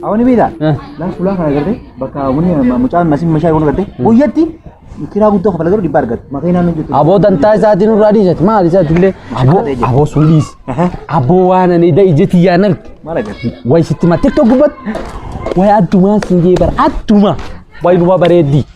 Awani beektaa? Laaf fulaa kana agartee bakka bunni mucaan masiin meeshaa kun agartee guyyatti kiraa guddoo kafala garuu dhibba argatu. Maqaa naannoo jettu. Aboo dantaa isaatiin irraa dhiisati maal isaati illee aboo aboo sun dhiisi aboo waan ani da ijati yaan arge Maal agartee? way sitti mattee tokko gubbatti way addumaa siin jee bara addumaa way duba bareeddii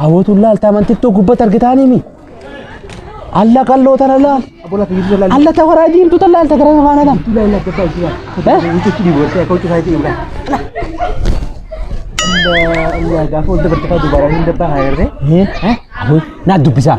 Hawwatuun laaltaa mantittoo gubbatti argitaaniimi. Alla qalloo tana laal. Alla ta waraa diimtuu tan laalta gara faana laal. Gaafa wal dabartee dubaraa hin dabbaa haa jirree. Naa dubbisaa.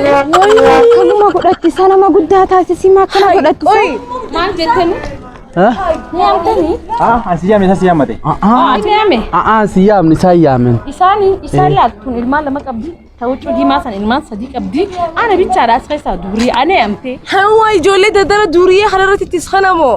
Akkanuma godhatti isa nama guddaa taasisimaa akkana godhatti isa. Maal jettani? Yaamtani? Ah, asi yaame isa si yaamate. Ati yaame? A'aa si yaamni isaa yaamen. Isaani isaan laattuun ilmaan lama qabdi. Tawuccuu diimaa san ilmaan sadii qabdi. Ana bichaadha as keessaa durii ana yaamte. Hawwa ijoollee daldala durii kanarratti ittis kanamoo.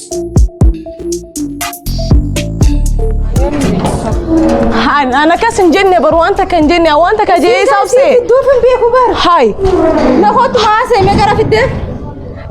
Haan ana kas hin jenne bar waan takka hin jenne waan takka jee isa obse. Duuf hin beeku bar. Haay Na kottu haasee mee gara fiddee.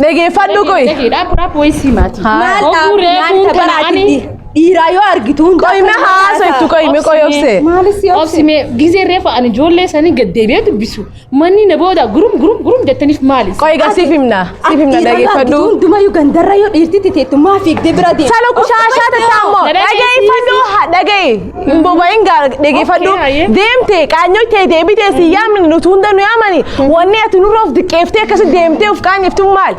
dhageeffadhu qoy. Dhaaf raaf wayii sii maatii. Maal Oguu dhaabbii maal reefuun tapharaa kanaanii. jirti? Dhiiraa yoo argitu hundaa Qoy mee haasa itti qoy mee qoy obse. Maalis yoo Obsi mee gizee reefa ani ijoollee sanii gad deebi'ee dubbisu. Manni na booda gurum gurum gurum jettaniif maali? Qoy egaa siif himna. Siif himna dhageeffadhu. Hundumayyuu gandarra yoo dhiirti teettu maa fiigdee bira deema. Salo kushaashaa tataa immoo dhageeffadhu ha- dhaga'i hin boba'in gaa dhageeffadhu deemte qaanyoo tee deebitee si yaamni nuti hunda nu yaamani wanni ati nurra of diqqeeftee akkasi deemtee of qaanyeeftu maal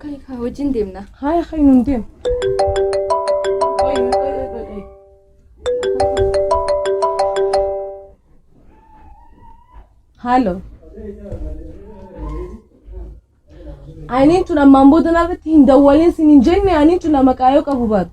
Kai kaa wajjin deemna. Haaya kai nuun deemu. Qoy, qoy, qoy, qoy, qoy. Haaloo. Aniin tun ammaan booda narratti hin dawwalin sin hin jenne aniin tun maqaa yoo qabu baatu.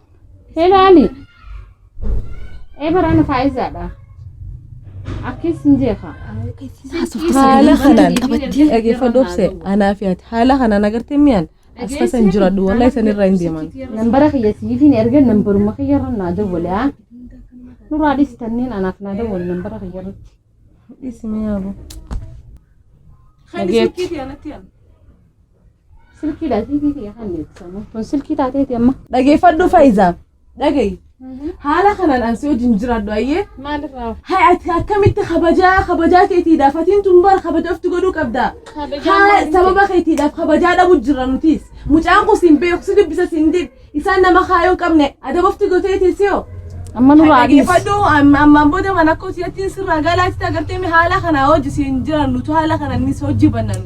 Ilaali. Eebaraan faayizaadha. Akkis hin jeeqa. haala kanaan qabattee dhageeffadhu obse anaa fi ati haala kanaan agartee mi'aan as tasa hin jiradhu walaa isan irraa hin deeman Nambara kiyya siifin erga nambaruma kiyya irra naa dawwale haa. Nuraa dhisi tanneen anaaf naa dawwale nambara kiyya irratti. dhiisi mi'aa boo Kan Dhageet. isii kiitii anatti yaala. Silkiidha siifii kiyya kan eegsisamu. Kun silkii taateeti amma. Dhageeffadhu Faayiza. Dhagayi. Haala kanaan ansi wajjin jiraadhu ayyee. Maalirraa Hay ati akkamitti kabajaa kabajaa keetiidha fatiin tun bara kabaja ofti godhuu qabda. Kabajaa Haa maaliif sababa keetiidhaaf kabajaa dhabu jirra nutis. Mucaan kun siin beeku si dubbisa siin dib isaan nama kaayoo hin qabne adaba ofti goteetii siyo. amma nurraa adiis. Dhageeffadhu amma- ammaan booda mana koo si'atiin sirraa galaatti agartee haala kanaa hojii siin jiran nutu haala kanaan hojii bannanu.